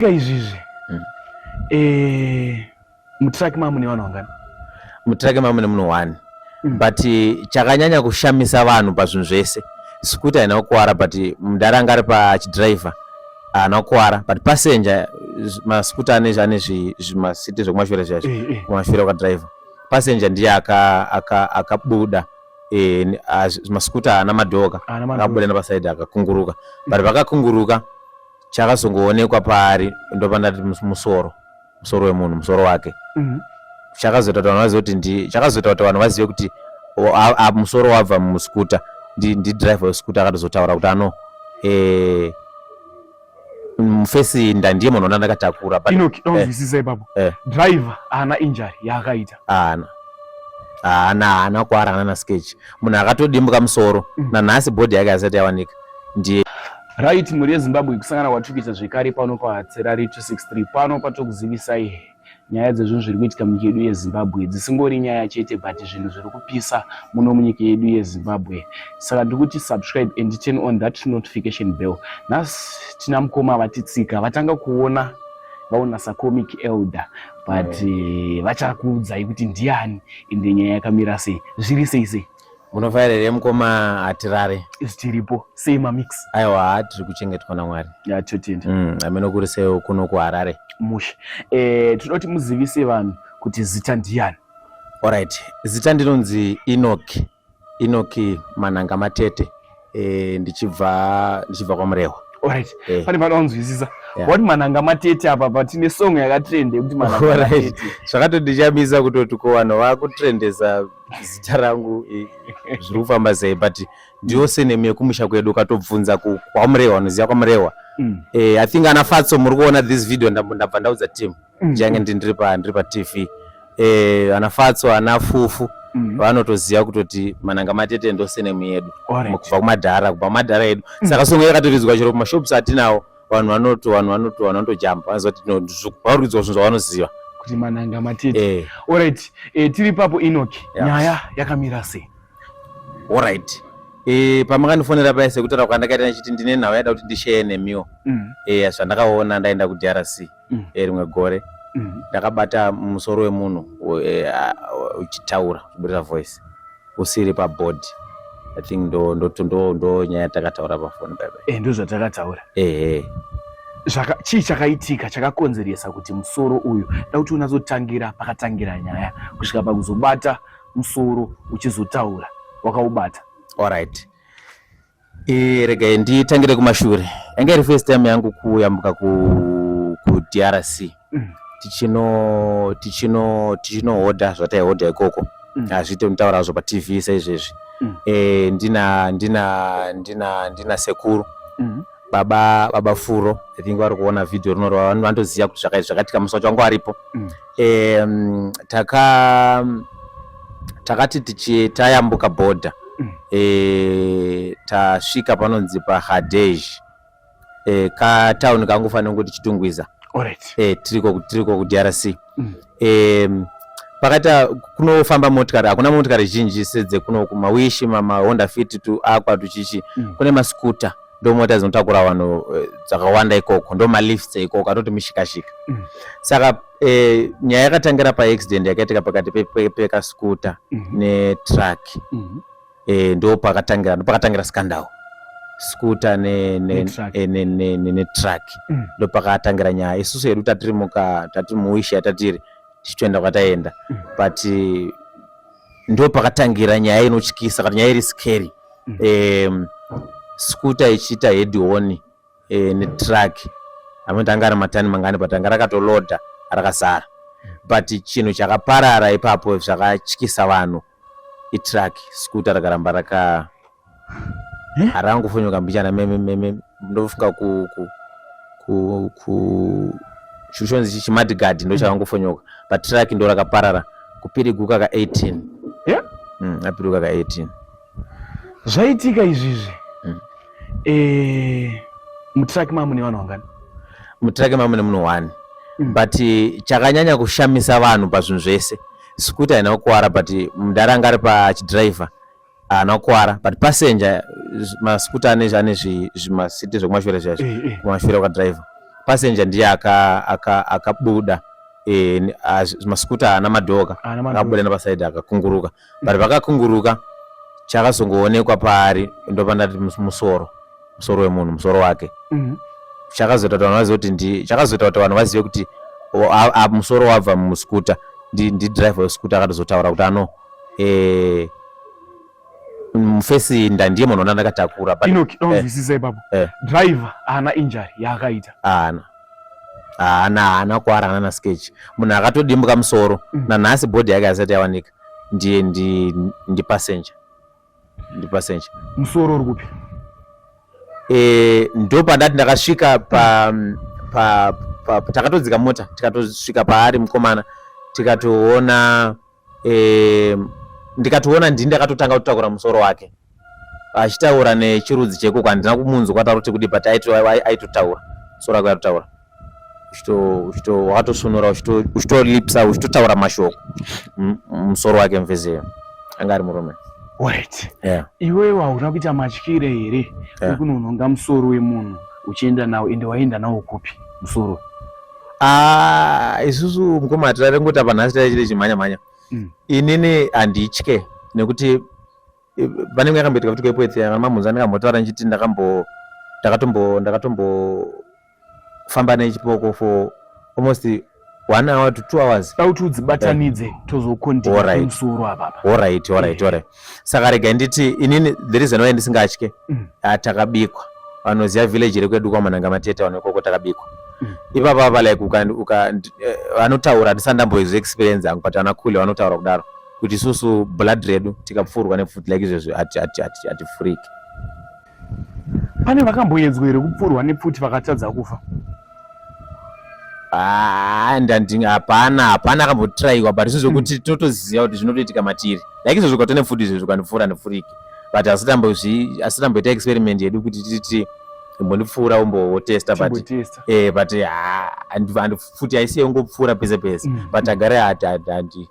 Ka izvizvi mm. eh, mutraki mamune vanhu vangani mutraki mamune munhu one mm. but eh, chakanyanya kushamisa vanhu pazvinhu zvese sikuti haina kukwara but mudhara anga ari pachidriver haana kukwara but passenger masikuti ane ane zvimasiti zvekumashure zviya eh, eh. kumashure kwadriver passenger ndiye akabuda aka, aka e, masikuti haana madhoka akabuda nepasaidi akakunguruka but vakakunguruka mm. chakazongoonekwa paari ndopandati musoro musoro wemunhu musoro wake mhm. chakazoita kuti vanhu vazive kuti ndi chakazoita kuti vanhu vazive kuti musoro wabva muskuta ndidriver weskuta akatozotaura kuti ano eh, mufesi nda ndiye munhu ona ndakatakura inokizisa eh, ipapo eh. driver haana injury yaakaita haana haana haana kuarana nasketch munhu akatodimbuka musoro mm. nanhasi bhodhi yake asati yawanika ndiye right mhuri yezimbabwe kusangana kwatiri kuita zvekare pano pahatserari 263 pano patokuzivisai nyaya dzezvinhu zviri kuitika munyika yedu yezimbabwe dzisingori nyaya chete but zvinhu zviri kupisa muno munyika yedu yezimbabwe saka ndiri kuti subscribe and turn on that notification bell nhasi tina mukoma vatitsika vatanga kuona vaona sacomic elder but eh, vachakuudzai kuti ndiani ende nyaya yakamira sei zviri sei sei munofaira here mukoma hatirare tiripo sei mamix aiwa tiri kuchengetwa namwari yatotenda mm, ameno kuri seo kuno kuharare mushe e, tinoti muzivise vanhu kuti zita ndiyani orit zita ndinonzi enoki enoki manhanga matete eh, ndichibva ndichibva kwamurehwa Alright. Eh. Pane pano unzwisisa. Yeah. What mananga matete apa but tine song yakatrend yekuti mananga Alright. matete. Zvakatondichamisa kutoti ko vanhu vakutrendesa zita rangu eh, zviri kufamba sei but ndiyo senemu yekumusha kwedu ukatobvunza ku- kwamurehwa unoziva kwamurehwa Mm. eh, i think ana fatso muri kuona this video ndambo- ndabva ndaudza team mm. change ndi ndiri pa ndiri pa TV eh ana fatso ana fufu mm. vanotoziva kutoti mananga matete ndose nemu yedu right. kubva kumadhara kubva kumadhara edu mm. saka songo yakatiridzwa chero kuma shops atinawo vanhu vanoto vanhu vanoto vanotojamba vanoziva kuti ndozvo vauridzwa zvinhu zvavanoziva kuti mananga matete eh. all right eh, tiri papo inoki yeah. nyaya yakamira sei all right Eh, pamakandifonera paye sekutaura kwandakaita ndichiti ndine nhau yada kuti ndisheye nemiwo mm. eh, zvandakaona ndaenda kudrc mm. Eh, rimwe gore mm. ndakabata musoro wemunhu eh, uchitaura kuburira voice usiri pabodhi i think ndo ndo ndo ndo nyaya takataura pafoni baba eh ndo zvatakataura eh eh zvaka chii chakaitika chakakonzeresa kuti musoro uyu da kuti unazotangira pakatangira nyaya kusvika pakuzobata musoro uchizotaura wakaubata all right Eh, regai nditangire kumashure. Yanga iri first time yangu kuyambuka ku ku DRC. Mm. Tichino tichino tichinohodha zvataihodha ikoko. Mm. Hazviite kutaura hazvo paTV saizvezvi. Mm. Eh, ndina ndina ndina ndina sekuru. Mm. Baba baba Furo, I think vari kuona video rinori vanoziva kuti zvakaitika musi wacho wangu aripo. Mm. um, taka takati tichi tayambuka border mm. e, tasvika panonzi pahadej e, eh, katauni kangofanira kuti chitungwiza right. e, tiriko tiriko kudrc mm. e, pakaita kunofamba motikari hakuna motikari zhinji sedzekuno kumawishi mamahonda fit tuakwa tuchichi mm. kune maskuta ndomota dzinotakura vanhu eh, dzakawanda ikoko ndomalifts ikoko atoti mushikashika mm. saka eh, nyaya yakatangira paaccident yakaitika pakati pekaskuta pe, pe mm -hmm. netruck mm -hmm. eh, ndo pakatangira ndo pakatangira scandal skuta netruck ne, ne, ne, ne, ne mm. ndo pakatangira nyaya isusu hedu tatiri muka tatiri muwisha tatiri tichitoenda kwataenda mm. but ndo pakatangira nyaya inotyisa kana nyaya iri scary mm -hmm. um, skuta ichiita hedihoni e, eh, netruck amwe tanga ari matani mangani but anga rakatoloda rakazara but chinhu chakaparara ipapo zvakatyisa vanhu itruck skuta rakaramba raka Eh? Hari angu fonyo kambichana meme meme ndofunga ku ku ku ku chuchonzi chichi madigadi ndo chava ngofonyoka but truck ndo rakaparara kupiriguka ka 18 yeah? mm, apiriguka ka 18 zvaitika izvizvi mm. e, eh, mutraki mamu ne vanhu vangani mutraki mamu ne munhu one mm. but chakanyanya kushamisa vanhu pazvinhu zvese sikuti haina kukwara but mudhara anga ari pachidriver haana kukwara but passenger masikuta ane ane zvimasiti zvekumashure zviya eh, eh. kumashure kwadriver passenger ndiye akabuda eh, masikuta haana madhoka akabuda nepasaidi akakunguruka but pakakunguruka chakazongoonekwa paari ndopandati musoro musoro wemunhu musoro wake mhm. chakazoita kuti vanhu vazive kuti ndi chakazoita kuti vanhu vazive kuti musoro wabva musikuta ndidriver wesikuta akatozotaura kuti ano eh mfesi ndandiye munhu ona ndakatakura but Enoch don't eh, zwisisa ipapo eh. driver ana injury yaakaita ana ana ana kwara ana na sketch munhu akatodimbuka musoro mm. na nhasi body yake asati yawanika ndiye ndi ndi passenger ndi passenger musoro uri kupi eh ndo pandati ndakasvika pa pa, pa, pa takatodzika mota tikatosvika paari mkomana tikatoona eh, ndikatoona ndini ndakatotanga kutakura musoro wake achitaura nechirudzi chekoko handina kumunzwa kwataura kuti kudi but aitotaura musoro wake aitotaura wakatosunura uchitolipsa uchitotaura mashoko musoro wake mvezeyo anga ari murume wait yeah. iwewe hauna kuita matyire here yeah. ekunonhonga musoro wemunhu uchienda nawo ende waenda nawo kupi musoro Ah, isusu mukoma hatirare ngoti apa nhasi taichita chimhanya mhanya mm. inini handitye nekuti pane imwe yakamboitika kuti kwepoetsi yakamamhunza ndakambotaura ndichiti ndakambo ndakatombo ndakatombofamba nechipoko for almost one hour to two hours auti udzibatanidze tozokondimusoro apapa orit orit orit saka rega nditi inini the reason why ndisingatye mm. ah, takabikwa vanoziva village rekwedu kwamananga mateta vano ikoko takabikwa mm. ipapa apa like eh, vanotaura handisati ndamboizwa experience yangu but vanakhule vanotaura kudaro kuti isusu blood redu tikapfuurwa nepfuti like izvezvi hatifuriki Pane vakamboedzwa here kupfurwa nepfuti vakatadza kufa? Ah, ndandinge hapana hapana akambotiraiwa but izvozvo kuti hmm. totoziva kuti zvinotoitika matiri like izvozvo kwatone futi izvozvo kandipfuura ndipfurike but asitamboita experiment yedu kuti titi imbondipfuura umbotesta but eh, but ah, futi aisiye ungopfuura pese pese hmm. but agare hati hati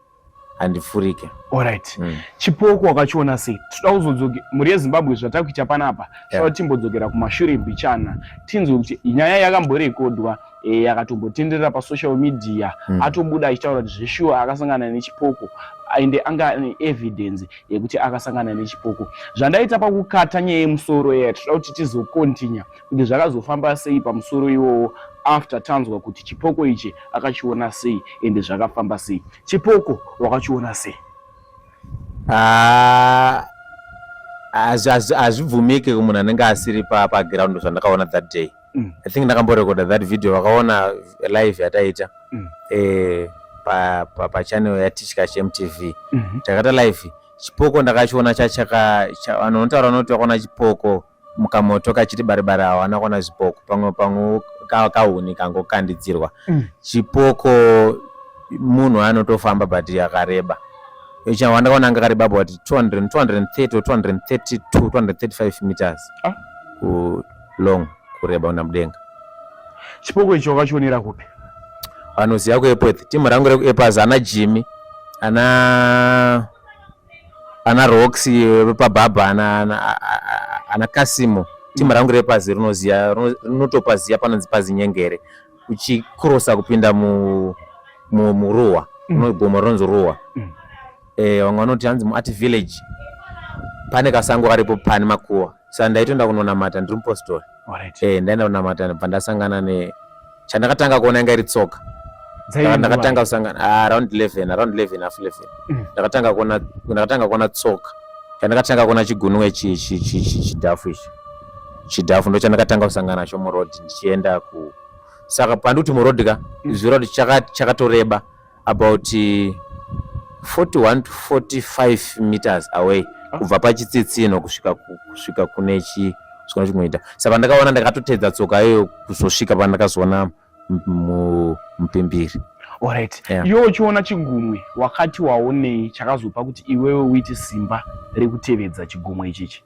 handifurike alright mm. chipoko wakachiona sei tinoda kuzodzoke mhuri yezimbabwe zvatava kuita panapa tinoda yeah. timbodzokera kumashure mbichana tinzwe kuti nyaya yakamborekodwa e, eh, yakatombotenderera pasocial media mm. atobuda achitaura kuti zveshuwa akasangana nechipoko ende anga ane evidence yekuti akasangana nechipoko zvandaita pakukata nyaya yemusoro yaya tinoda kuti tizokontinya kuti zvakazofamba sei pamusoro iwowo after tanzwa kuti chipoko ichi akachiona sei ende zvakafamba sei chipoko wakachiona sei ah, hazvibvumike kumunhu anenge asiri paground zvandakaona that day mm. i think ndakamborekoda that video vakaona live yataita mm. eh, pachannel yatichka chmtv mm-hmm. takaita live chipoko ndakachiona chachaka vanotaura vanoti vakaona chipoko mukamoto kachiti baribari hawana kuona zvipoko pamwe pamwe kahuni kangokandidzirwa mm. chipoko munhu anotofamba but yakareba chawanda kaona anga kareba about 200 230 232 235 meters ah. ku long kureba una mudenga chipoko icho wakachionera kupi vanoziva kuepworth timu rangu rekuepworth ana jimmy ana ana rox vepabhabha ana kasimo timu mm. rangu repazi rinoziva rinotopaziva panonzi pazi nyengere uchikrosa kupinda muruwa mm. gomo rinonzi ruwa mm. eh, vamwe vanoti hanzi muart village pane kasango karipo pane makuwa sa ndaitoenda kunonamata ndiri mupostori right. eh, ndaenda kunamata ndibva ndasangana ne chandakatanga kuona inga iri tsoka ndakatanga kusangana ah, around 11 around 11 half 11 mm. ndakatanga kuona ndakatanga kuona tsoka chandakatanga kuona chigunwe chidhafu ichi chidhafu ndo chandakatanga kusangana nacho muroad ndichienda ku saka pandikuti muroad ka mm. zviroad chakatoreba chaka about 41 eh, to 45 meters away ah. kubva pachitsitsino kusvika kusvika kune chi zvikona chinoita saka pandakaona ndakatotedza tsoka iyo kuzosvika pandakazoona mupimbiri orit yeah. iwe uchiona chigumwe wakati waonei chakazopa kuti iwewe uite simba rekutevedza chigumwe ichichi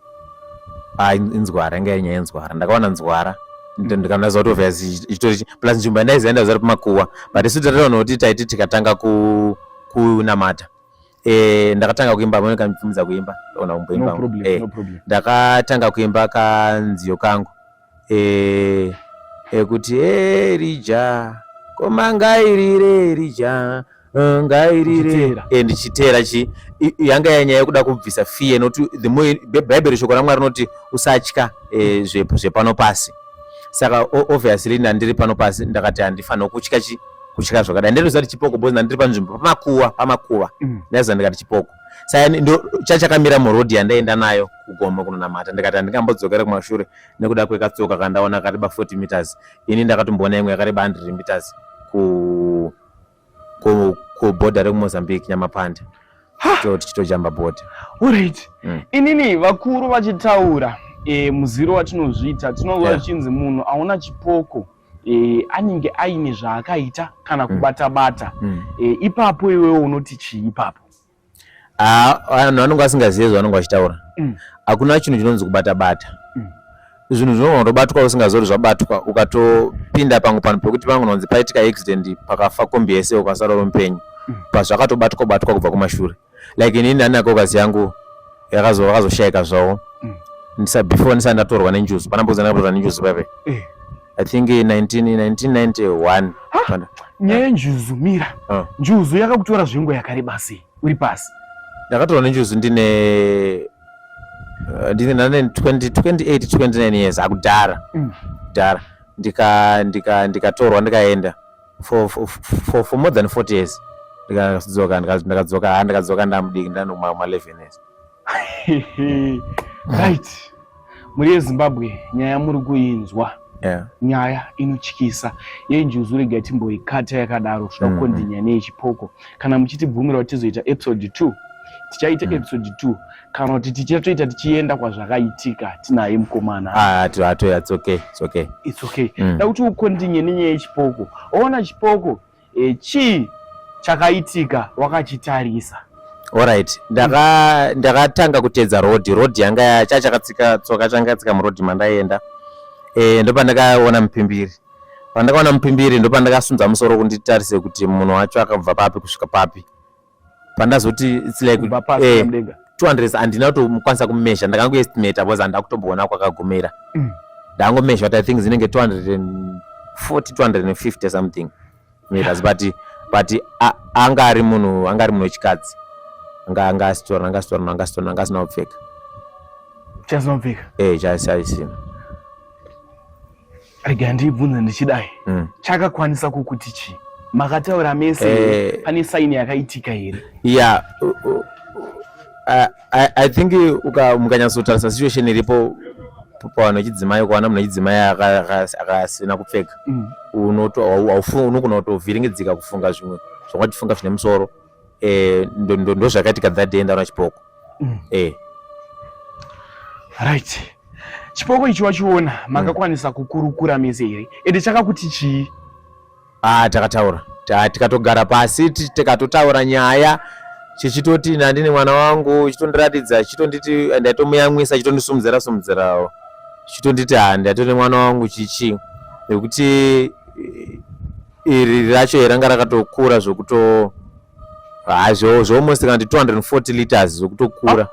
ah, inzwara inga yenyaya yenzwara ndakawana nzwara mm. ndikanaza kuti obviously ichitori plus nzvimbo yandaiziva ndaiziva kuti makuwa but isu tatataona kuti taiti tikatanga kunamata eh, ndakatanga kuimba amene kandipfumidza kuimba ona kumboimba eh, ndakatanga kuimba kanziyo kangu Ee, ekuti Erija, koma ngairire Erija, eh, ngairire Ndichiteera. Eh, ndichiteera chi i- i- yanga yanyaya yekuda kubvisa fear nokuti the more Bi- bhaibheri shoko ramwari rinoti usatya eh, zve- zvepano pasi saka o- obviously ndandiri pano pasi ndakati handifanira kutya chi kutya zvakadai ndinoziva kuti chipoko bhozi ndandiri panzvimbo pamakuva pamakuva Mm. ndaiziva ndikati chipoko saka ndo chachakamira muroad yandaenda nayo kugomo kunonamata ndikati handingambodzokera kumashure nekuda kwekatsoka kandaona kareba 40 meters ini ndakatomboona imwe yakareba 100 meters ku ku kuborder rekumozambique nyamapanda to tichitojamba border alright mm. inini vakuru vachitaura e, muziro watinozviita tinova yeah. chinzi munhu aona chipoko e, anenge aine zvaakaita kana hmm. kubata bata mm. e, ipapo iwewe unoti chii ipapo ah, vanhu ah, vanenge vasingazive zvavanenge vachitaura mm. hakuna chinhu chinonzi kubata bata mm. zvinhu zvinogona kutobatwa usingazori zvabatwa ukatopinda pangu panhu pekuti pangononzi paitika accident pakafa kombi yese ukasara uri mupenyu mm. pazvakatobatwa batwa kubva kumashure like inini ani nakokazi yangu yakazoshaika zvawo mm. ndisa before ndisati ndatorwa nenjuzu pana mbuzi ndakatorwa nenjuzu pape eh. i think 1991 nyaya yenjuzu mira ah. njuzu yakakutora zvengo yakareba sei uri pasi ndakatorwa nenjuzu ndine eh, ndine 28 29 years akudhara mm. kudhara ndikatorwa ndikaenda for, for, for, for more than 40 years ndikadzoka ndikadzoka ha ndikadzoka ndamudiki ndanoma ma 11 years right muri yezimbabwe nyaya muri kuinzwa yeah. nyaya inotyisa yenjuzu rega timboikata yakadaro kusvika mm-hmm. kukondinya neyechipoko kana muchitibvumira kuti tizoita episode 2 tichaita mm. episode 2 kana kuti tichatoita tichienda kwazvakaitika tinaye mukomana hatoya it's okay it's okay it's okay mm. dakuti ukondinye nenyaya yechipoko waona chipoko e, chii chakaitika wakachitarisa orit ndakatanga kuteedza road road yanga cha chakatsika tsoka changatsika muroad mandaienda e, ndopandakaona mupimbiri pandakaona mupimbiri ndopandakasunza musoro kunditarise kuti munhu wacho akabva papi kusvika papi pandazoti its like eh, 200 handina kutomukwanisa kumezha ndakangoestimata bcause handina kutomboona kwakagumira mm. ndangomezha kuti i think zinenge 240 250 something meters but but anga ari munhu anga ari munhu wechikadzi anga anga asitorana anga asitorana anga asitorana anga asina kupfeka chasina kupfeka eh chaisina rega ndiibvunze ndichidai mm. chakakwanisa kukuti chii makataura mese eh, pane saini yakaitika here yeah I, I, i think mukanyatsotarisa situation iripo pavanhu vechidzimai ukaona munhu wechidzimai akasina kupfeka mm. unogona kutovhiringidzika kufunga zvimwe zvakatifunga zvine musoro eh ndo ndo ndo zvakaitika that day ndaona chipoko mm. eh right chipoko ichi wachiona mm. makakwanisa mm. kukurukura mese here ende chakakuti chii ah takataura tikatogara pasi tikatotaura nyaya chichitoti nandi nemwana wangu chitondiratidza chitonditi ndaitomuyamwisa chitondisumudzira sumudzirawo chitonditi handi atone mwana wangu chichi nekuti iri racho ranga rakatokura zvokuto hazvo zvoalmost kana ndi 240 liters zvokutokura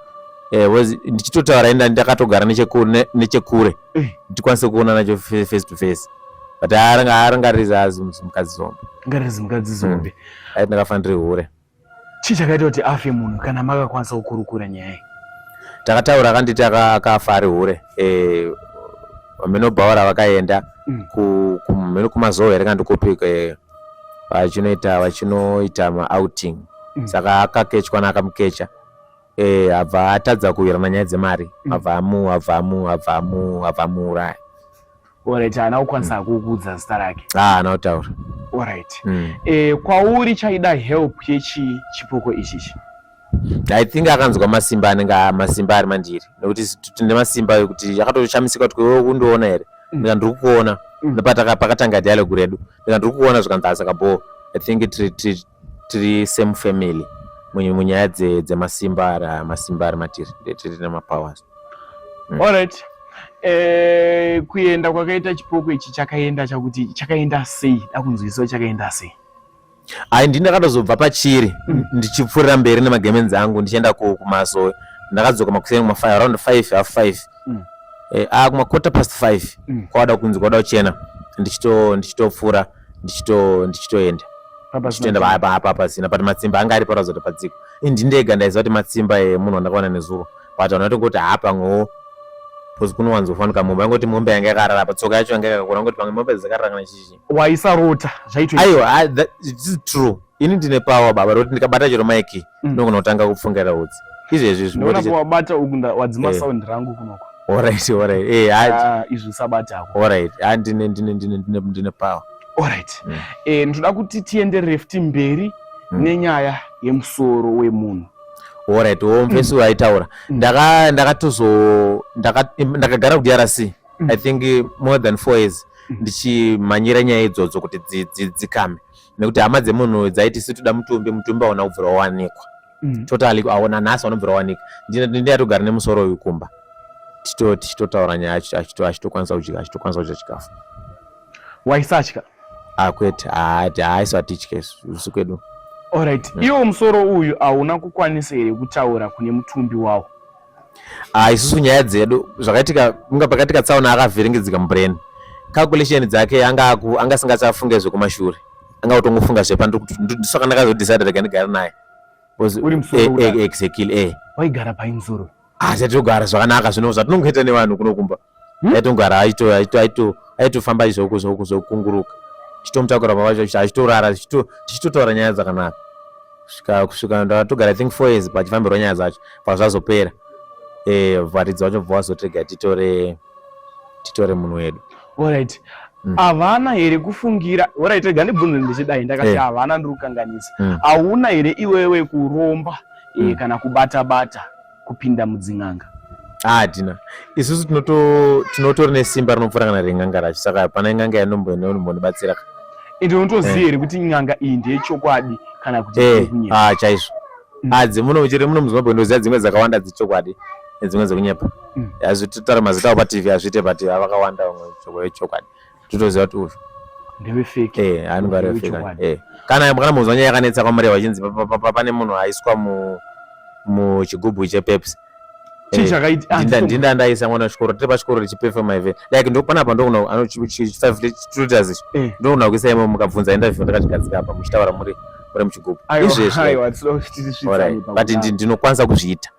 eh, ndichitotaura enda ndakatogara nechekure eh. ndikwanise kuona nacho face to face but aranga aranga rizazi mukadzi zombe aranga rizi mukadzi zombe hmm. aiti ndakafanira hure Chii chakaita kuti afe munhu kana makakwanisa kukurukura nyaya iyi? Takataura akanditi akafa ari hure eh, vaminobhaura vakaenda mm. kumheno kumazowe here kandi kupi eh, vachinoita vachinoita maouting mm. saka akakechwa naakamukecha eh, abva atadza kuwirana nyaya dzemari mm. abva amu abva amu abva amu abva amuuraya Alright, haana kukwanisa mm. kukuudza zita rake. Ah, haana kutaura. Alright. Mm. Eh, kwauri chaida help yechi chipoko ichichi. I think akanzwa masimba anenge masimba ari mandiri nekuti tine masimba ekuti akatoshamisika kuti wewe kundiona here mm. ndika ndiri kukuona mm. nepakatanga dialogue redu ndika ndiri kukuona zvikanzi asaka bho i think tiri same family munyaya dzemasimba ari aya masimba ari matiri tiri nemapowers mm. allright eh, kuenda kwakaita chipoko ichi chakaenda chakuti chakaenda sei dakunzwisiwa chakaenda sei ai ndini ndakatozobva pachiri mm. ndichipfuurira mberi nemagemenzi angu ndichienda kumasowe ndakadzoka makuseni kuma5 around 5 half 5 mm. eh, a ah, kuma quarter past 5 mm. kwawada kunzi kwada kuchena ndichitopfuura ndichito ndichitoenda ndichitoenda paya paya papa pasina but matsimba anga ari paratidza kuti padziko indi ndega ndaiziva kuti matsimba emunhu wandakaona nezuro but vanhu vatongoti haa pamwewo bcause kunowanzofanika mombe angoti mombe yanga yakarara apa tsoka yacho yanga yakakura angoti pamwe mombe dzakarara kana chichi waisarota zvaitoaiwa this is true ini ndine power baba rokuti ndikabata chero maiki mm. ndogona kutanga kupfungaira hutsi izvezvi zvinowabata uku wadzima eh. sound rangu kunoko orit orit eh, ah, izvi usabatako orit ah, ndine power orit mm. eh, ndinoda kuti tienderere futi mberi mm. nenyaya yemusoro wemunhu orit womvesi waitaura ndakagara kudrc i think more than four years ndichimhanyira nyaya idzodzo kuti dzikame nekuti hama dzemunhu dzaiti si toda mutumbi mutumbi aona kubvira wawanikwa mm. totally aona nhasi vanobvira wawanika ndini atogara nemusoro uyu kumba tichitotaura nyaya achitokwanisa kudya achitokwanisa kudya chikafu waisatya akwete ah, haaisatitye usu kwedu orit mm. iwo musoro uyu hauna kukwanisa here kutaura kune mutumbi wawo ah, isusu nyaya dzedu zvakaitika kunga pakaitika tsaona akavhiringidzika mubrain calculation dzake anga anga singachafunge zvekumashure anga kutongofunga zvepa ndisaka ndakazodecide rega ndigare naye exactly eh waigara painzuro ah, hatitogara zvakanaka zvino zvatinongoita nevanhu kunokumba hmm? aitongara aito aito aito aitofamba izvoko zvoko zvokunguruka tichitomutakura baba vacho achitorara tichitotaura nyaya dzakanaka svika kusvika ndatogara i think four years pachifambirwa nyaya dzacho pazvazopera eh, varidzi vacho bva vazotega titore titore munhu wedu alright Mm. havana here kufungira orit rega ndibvunze ndichidai ndakati eh. havana ndiri kukanganisa mm. hauna here iwewe kuromba eh, mm. kana kubata bata kupinda mudzin'anga hatina ah, isusu tinotori nesimba rinopfuura kana ren'anga racho saka hapana in'anga yanombonobatsira ende unotoziva eh. here kuti n'anga iyi ndeyechokwadi kana kuti eh, ah, chaizvo mm. ah, dzimuno chete muno muzimbabwe ndoziva dzimwe dzakawanda dzechokwadi nedzimwe dzekunyepa mm. hazvitotara mazita ao patv hazviite patv avakawanda vamwe chokwadi titoziva kuti uyu ndewe fake eh anenge ari fake eh kana kana muzwa nyaya yakanetsa kwamuri vachinzi pane munhu aiswa mu mu chigubhu chepepsi ndinda ndaisa mwana wechikoro tiri pachikoro richipefema ive like ndopana apa ndogona chifivetutors ichi eh. ndogona kuisa imo mukabvunza interview ndakachigadzika apa muchitaura muri muri muchigubhu izvezvobut ndinokwanisa kuzviita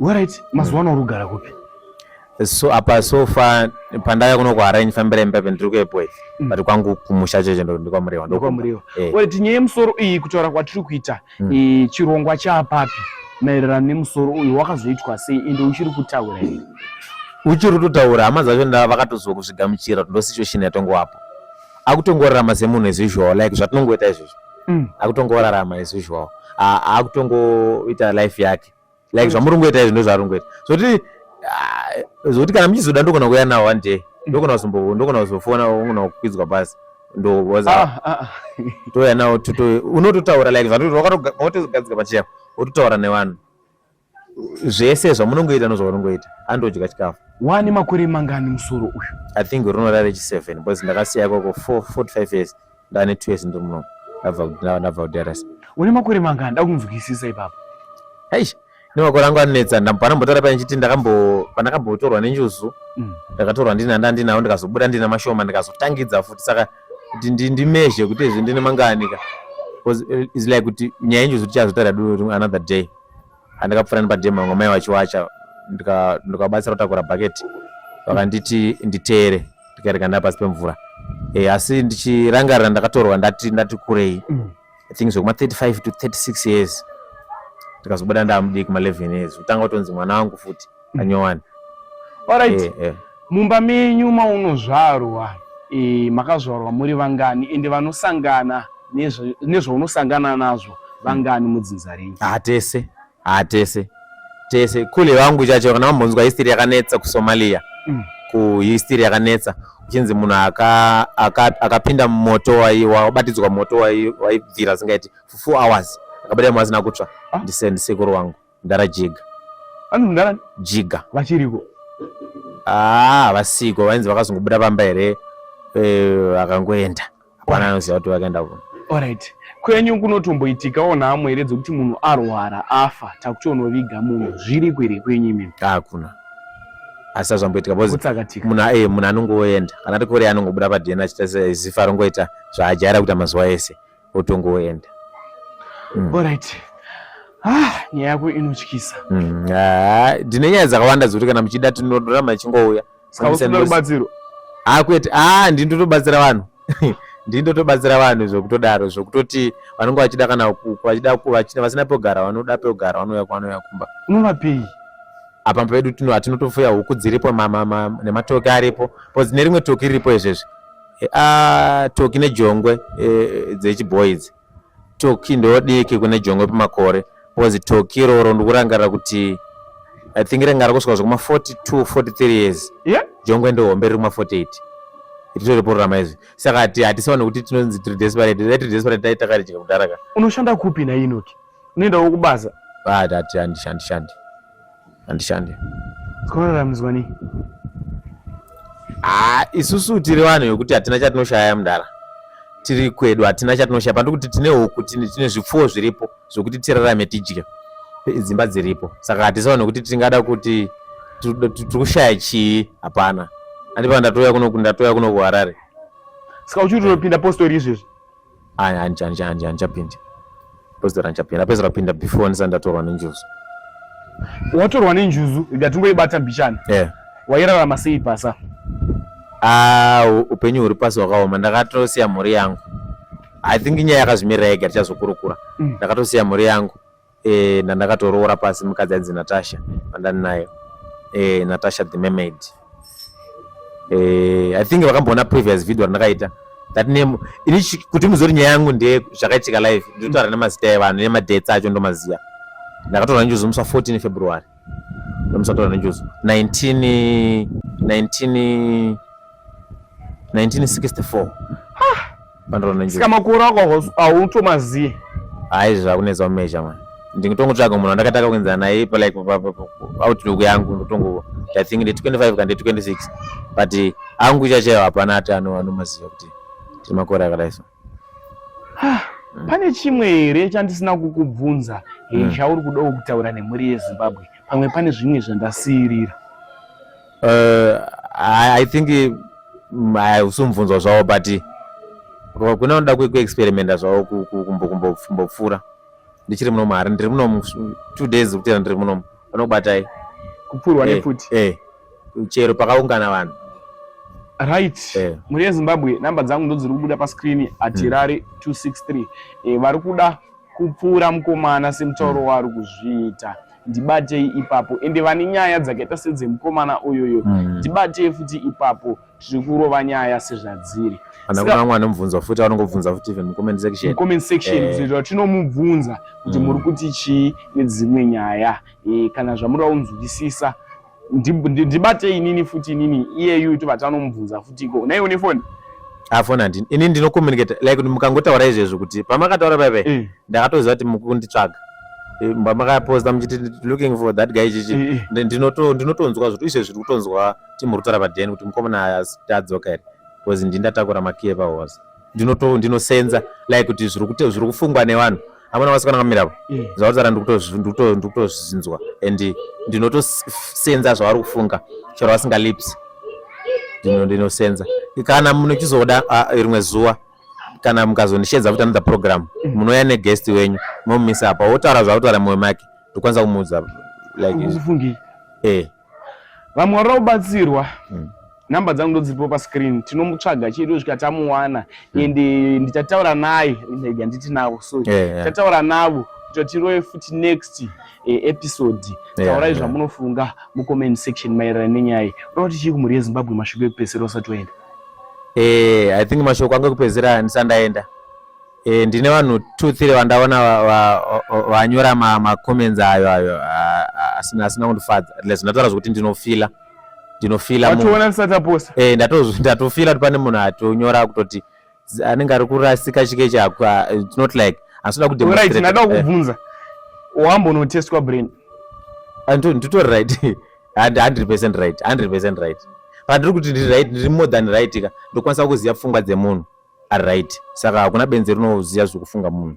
Alright, mazuva ano urugara kupi? So apa so far pandaya kuno ku arrange fambira imba pendiri kuepo ife. Mm. But kwangu kumusha cheche ndo ndikwa muriwa. Ndikwa muriwa. Eh. Well, tinye musoro iyi kutaura kwatiri kuita mm. e, chirongwa chapapi maererano nemusoro uyu wakazoitwa sei ende uchiri kutaura here? Uchiri kutaura hama dzacho nda vakatoziwa kuzvigamuchira ndo situation yatongo wapo. Akutongorarama semunhu as usual like zvatinongoita izvozvo. Mm. Akutongorarama as usual. Akutongoita life yake. like zvamuri kungoita izvi ndozvaari kungoita zvokuti ah, zvokuti kana muchizoda ndogona kuuya nawo one day ndogona kuzombo ndogona kuzofona ungona kukwidzwa basi ndowoza ah, ah, touya nawo tuto unototaura like zvatokatogadzika pachiya wototaura nevanhu zvese zvamunongoita nozvaunongoita andodya chikafu wani makore mangani musoro uyu i think runorare chi seven because ndakasiya ikoko four forty five years ndane two years ndiri muno ndabva kudrasa une makore mangani ndakunzwisisa ipapo aish nemakore angu anonetsa panambotora paya ndichiti ndakambo pandakambotorwa nenjuzu mm. ndakatorwa ndina ndandinawo ndikazobuda ndina mashoma ndikazotangidza futi saka kuti ndimezhe kuti izvi ndine mangani ka eh, is like kuti nyaya yenjuzu tichazotara another day andakapfuura nepadhemu vamwe mai vachiwacha ndikabatsira kutakura bhaketi vakanditi nditere ndikaereka ndaa pasi pemvura e, asi ndichirangarira ndakatorwa ndati ndati kurei mm. i think zvekuma 35 to 36 years ndikazobuda ndamudiki ma 11 years kutanga kutonzi mwana wangu futi anyowani alright eh, eh. mumba menyu maunozvarwa eh, makazvarwa muri vangani ende vanosangana nezvaunosangana nazvo vangani mudzinza renyu hatese ah, hatese ah, tese kule vangu chacho kana vambonzwa history yakanetsa kusomalia mm. kuhistory yakanetsa uchinzi munhu akapinda mumoto wabatidzwa moto waibvira singaiti for four hours akabatira mwana asina kutsva ah. ndisekuru wangu Mdara Jiga. Vanhu mdara Jiga. Vachiriko. Ah, vasiko vainzi vakazongobuda pamba here eh, vakangoenda. Hapana anoziva kuti vakaenda kuno. Alright. Kwenyu kunotomboitikawo nhamo here dzekuti munhu arwara afa takutonoviga munhu zviriko here kwenyu imimi? Hakuna. Ah, asi azvamboitika bcause munhu eh, munhu anongoenda kana ari kure anongobuda padna achita zifa rongoita zvaajaira kuita mazuva ese otongoenda mm. alright ah, nyaya yako inotyisa mm. ah, ndine nyaya dzakawanda dzekuti kana muchida tinorama ichingouya rubatsiro akwete ah, ah, ndindotobatsira vanhu ndindotobatsira vanhu zvekutodaro zvekutoti vanenge vachida kana vachida vasina pogara vanoda pogara vanouya kwanouya kumba unovapei apa pedu tinotofuya huku dziripo nematoki aripo bcause nerimwe toki riripo izvezvi Eh, ah, toki nejongwe eh, dzechibhoyi idzi toki ndodiki kune jongwe pamakore because toki iroro ndikurangarira kuti i think ranga rakusvika zvekuma 42 43 years yeah? jongwe ndohombe riri kuma 48 ritori pororama izvi saka hatisaone kuti tinonzi tiri desperate dai tiri desperate dai takaridya kudhara ka unoshanda kupi nainoki unoendawo kubasa ah, tati handishandi shandi handishandi zvinoraramiswa nei haa ah, isusu tiri vanhu vekuti hatina chatinoshaya mudhara tiri kwedu hatina chatinoshaya pandiri kuti tine huku tine zvipfuwo zviripo zvokuti tirarame tidye dzimba dziripo saka hatisaona nekuti tingada kuti tiri kushaya chii hapana andipa ndatouya kuno ndatoya kuno kuharare saka uchiri unopinda postori izvezvi hanjapindi pozera hanjapindi apezera pinda before ndisati ndatorwa nenjuzu watorwa nenjuzu ndatingoibata mbichana yeah. wairarama sei pasa ah, upenyu huri pasi hwakaoma ndakatosiya mhuri yangu i think nyaya yakazvimirira yega tichazokurukura mm. ndakatosiya mhuri yangu eh, ndandakatoroora pasi mukadzi ainzi Natasha vandani nayo eh, Natasha the mermaid eh, I think vakamboona previous video randakaita that name ini kuti muzori nyaya yangu ndeye zvakaitika live ndinotaura nemazita evanhu nemadates acho ndomaziva ndakatoona njuzumuswa 14 February Musataura nenjuzu 19 19 1964 pandoro nenjuzu saka makore ako hautomazivi hayi zvakunetsa kumeja mani ndingitongotsvaga munhu wandakataka kuenzana naye palike outlook yangu ndotongo i think ndi 25 kande 26 but angu ichachayo hapana ati anomaziva kuti timakore akadai so Ah, mm. pane chimwe here chandisina kukubvunza mm. chauri kudawo kutaura nemhuri yezimbabwe pamwe pane zvimwe zvandasiirira uh, I, i think mm, usumubvunzwa zvavo but kune unoda kuexperimenta zvavo kumbopfuura ndichiri muno mahari ndiri muno two days kutera ndiri muno vanokubatai kupfuurwa eh, nefuti eh. chero pakaungana vanhu right eh. mhuri yezimbabwe namba dzangu ndo dziri kubuda pascreen hatirari mm. 263 eh, vari kuda kupfuura mukomana semutauro mm. waari kuzviita ndibatei ipapo ende vane nyaya dzakaita sedzemukomana uyoyo mm. ndibatei mm. futi ipapo tiri kurova nyaya sezvadziri kana kuna vamwe vanomubvunza futi vanongobvunza futi even mucomment section mucomment section eh. kuzoita kuti tinomubvunza kuti mm. muri kuti chii nedzimwe nyaya eh, kana zvamuri vaunzwisisa ndibate inini futi inini iyeyu tobata anomubvunza futi iko naiwo nefoni afona ah, ndini ini ndinocommunicate like mukangotaura izvezvo kuti pamakataura paipai eh. ndakatoziva kuti mukunditsvaga eh, makaposta muchiti looking for that guy chichi eh, ndinotonzwa zvoti izvezvi tiri kutonzwa timuri kutaura paden kuti mukomana adzoka here bcause ndindatakura makiye pahose ndinoto ndinosenza like kuti zviri kuti zviri kufungwa nevanhu amuna vasikana kamira avo mm. zvavataura ndikutozvinzwa and ndinotosenza zvavari kufunga chero vasinga lips ndinosenza kana munochizoda rimwe zuva kana mukazondishedza kuti another program mm. munouya neguest wenyu momumisa apa wotaura zvakutaura mumwe make ndokwanisa kumuudza like eh vamwe varikuda kubatsirwa mm. number dzangu ndodziripo pascreen tinomutsvaga chedu svika tamuwana mm. and eh, ndichataura naye handiti navo so eh, eh. ndichataura yeah, yeah. navo kuti tiroye futi next eh, episode yeah, taurai yeah. zvamunofunga mucomment section maererano nenyaya iyi unoda kuti chii kumhuri yezimbabwe mashoko ekupedzisira usati waenda eh, i think mashoko angu ekupedzisira handisandaenda E, ndine vanhu two three vandaona vanyora va, va, macomments ma ayo ayo asina asina kundifadza atleast ndataura zvekuti ndinofila ndinofila watoona ndisati aposta e, eh, ndatofila kuti pane munhu atonyora kutoti anenge ari kurasika chike chako ah, it's not like asina kudemonstrate right ndada eh. kukubvunza wambonotestwa brain ah, nditori right 100 percent right 100 percent right pandiri kuti ndiri right ndiri more than right ka ndokwanisa kuziva pfungwa dzemunhu ari right saka hakuna benzi rinoziva zvekufunga munhu